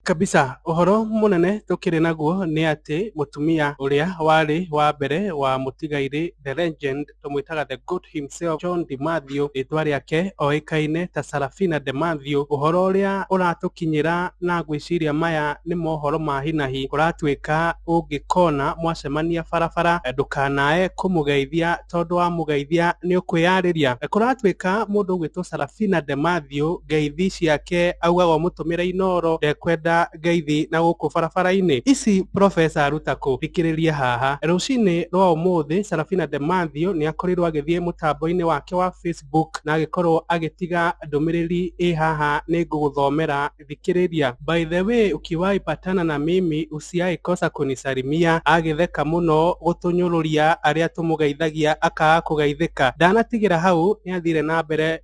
Kabisa. Ũhoro mũnene tũkĩrĩ naguo nĩ atĩ mũtumia ũrĩa warĩ wa mbere wa mũtigairĩ The Legend, tũmwĩtaga The Goat himself, John Di Mathew, rĩtwa rĩake oĩkaine ta Sarafina De Mathew, ũhoro ũrĩa ũratũkinyĩra na ngwĩciria maya nĩ mohoro ma hi na hi, ũratuĩka ũngĩkona mwacemania barabara ndũkanae kũmũgeithia tondũ wamũgeithia nĩ ũkwĩyarĩria. Kũratuĩka mũndũ ũgwĩtwo Sarafina De Mathew ngeithi ciake augaga ũmũtũ... ũratũmĩra inooro ndekwenda ngeithi na gũkũ barabara-inĩ ici professor aruta kũ thikĩrĩria haha rũcinĩ rwa ũmũthĩ Sarafina de Mathew nĩ akorirwo agĩthiĩ mũtambo-inĩ wake wa Facebook na agĩkorwo agĩtiga ndũmĩrĩri ĩ haha nĩ ngũgũthomera thikĩrĩria by the way ukiwahi patana na mimi usiai kosa kunisalimia agĩtheka mũno gũtũnyũrũria arĩa tũmũgeithagia akaga kũgeithĩka ndanatigĩra hau nĩ athire na mbere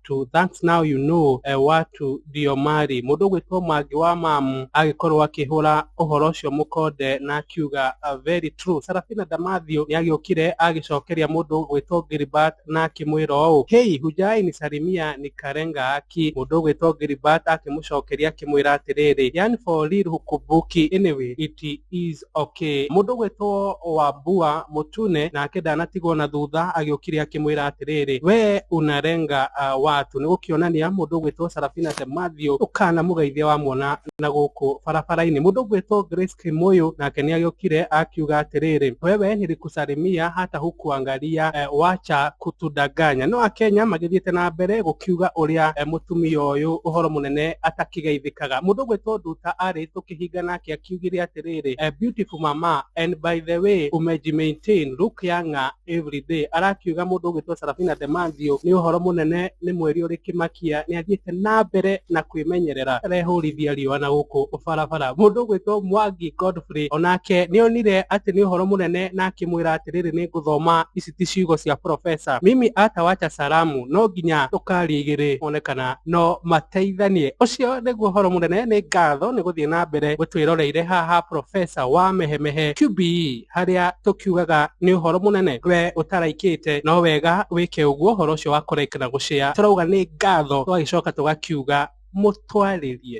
watu thanks now you know e, watu ndio mari mũndũ ũgwĩtwo mangi wa mamu agĩkorwo akĩhũra ũhoro ũcio mũkonde na akiuga uh, very true sarafina damathio nĩ agĩũkire agĩcokeria mũndũ ũgwĩtwo gilbert na akĩmwĩra ũũ hei hujai ni sarimia ni karenga aki mũndũ ũgwĩtwo gilbert akĩmũcokeria akĩmwĩra atĩrĩrĩ yani for real hukubuki anyway it is Okay. Mũndũ ũgwĩtwo Wambua Mũtune nake ndanatigwo na thutha agĩũkire akĩmwĩra atĩrĩrĩ, we unarenga uh, watu nĩ gũkĩonania mũndũ ũgwĩtwo Sarafina the Matthew ũkanamũgeithia wamuona na gũkũ barabara-inĩ. Mũndũ ũgwĩtwo Grace Kĩmũyũ nake nĩ agĩũkire akiuga atĩrĩrĩ, wewe nilikusalimia hata hukuangalia eh, wacha kutudanganya. No Akenya magĩthiĩte na mbere gũkiuga ũrĩa eh, mũtumia ũyũ ũhoro mũnene atakĩgeithĩkaga. Mũndũ ũgwĩtwo Nduta arĩ akĩhinga nake akiugire atĩrĩrĩ eh, beautiful mama and by the way umeji maintain look younger every day arakiuga mũndũ ũgĩtwo Sarafina Demanzio nĩ ũhoro mũnene nĩ mweri ũrĩ kĩmakia nĩ athiĩte na mbere na kwĩmenyerera arehũrithia riũa na gũkũ barabara mũndũ ũgwĩtwo Mwangi Godfrey onake nĩ onire atĩ nĩ ũhoro mũnene na akĩmwĩra atĩrĩrĩ nĩ ngũthoma ici ti ciugo cia profesa mimi atawacha salamu no nginya tũkaria igĩrĩ one kana no mateithanie ũcio nĩguo ũhoro mũnene nĩ ngatho nĩ gũthiĩ na mbere gũtwĩroreire haha profesa wa mehemehe QBE harĩa tũkiugaga nĩ ũhoro mũnene we ũtaraikĩte no wega wĩke ũguo ũhoro ũcio wa kũraika na gũcĩa tũrauga nĩ ngatho tũgagĩcoka tũgakiuga mũtwarĩrie